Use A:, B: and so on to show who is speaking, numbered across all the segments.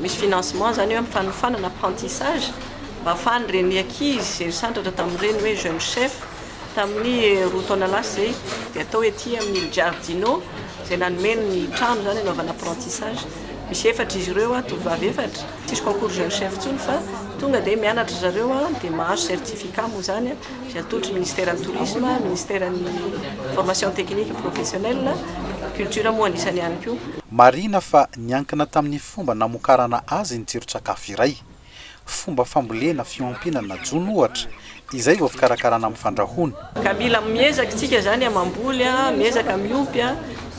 A: Misy financement zany hoe fanofanana apprentissage mba ahafahan'ireny ankizy zay nisandratra tamin'ireny hoe jeune chef tamin'ny roa taona lasa zay dia atao ety amin'ny il giardino zay nanome ny trano zany anaovana apprentissage misy efatra izy ireo a tovovavy efatra tsisy concours jeune chef intsony fa tonga dia mianatra zareo a dia mahazo certificat moa zany a Izay atolotry ny Ministeran'ny Tourisme, Ministeran'ny Formation Technique Professionnelle, Culture moa anisany ihany koa. Marihina fa
B: niankina tamin'ny fomba namokarana azy ny tsiron-tsakafo iray. Fomba fambolena fiompiana na jono ohatra, izay vao fikarakarana amin'ny fandrahoana. Ka mila miezaka
A: isika izany mamboly, miezaka miompy.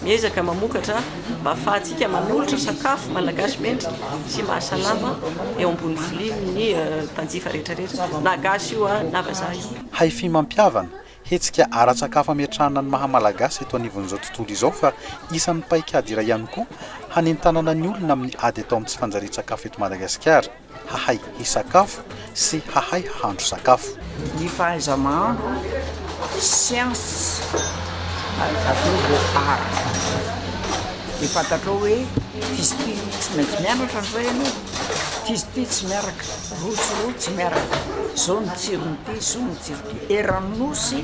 A: Miezaka mamokatra mba hafahantsika manolotra sakafo malagasy mendrika sy mahasalama eo ambony vilia ny mpanjifa rehetra rehetra na gasy io na vazaha io. Hi-Fi Mampihavana,
B: hetsika ara-tsakafo ametrahana ny maha Malagasy eto anivon'izao tontolo izao fa isan'ny paikady iray ihany koa hanentanana ny olona amin'ny ady atao amin'ny tsy fanjarian-tsakafo eto Madagasikara. hahay hisakafo sy hahay hahandro sakafo. Ny fahaiza-mahandro,
C: sciences, ary avy eo vao art. Dia fantatrao hoe f'izy ity tsy maintsy mianatra an'izao ianao, f'izy ity tsy miaraka, roa sy roa tsy miaraka, izao ny tsiron'ity, izao ny tsiron'ity. Eran'ny Nosy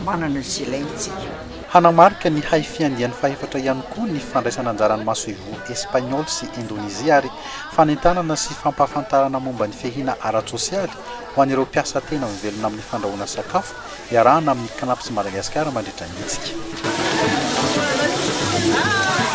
C: manana izay ilaintsika. Hanamarika ny
B: haifiandiany fahefatra ihany koa ny fandraisan'anjaran'ny masoivoho Espagnola sy Indonezia ary fanentanana sy fampahafantarana momba ny fihahina ara-tsosialy ho an'ireo mpiasa tena mivelona amin'ny fandrahoana sakafo iarahana amin'ny Cnaps Madagascar mandritra ny hetsika.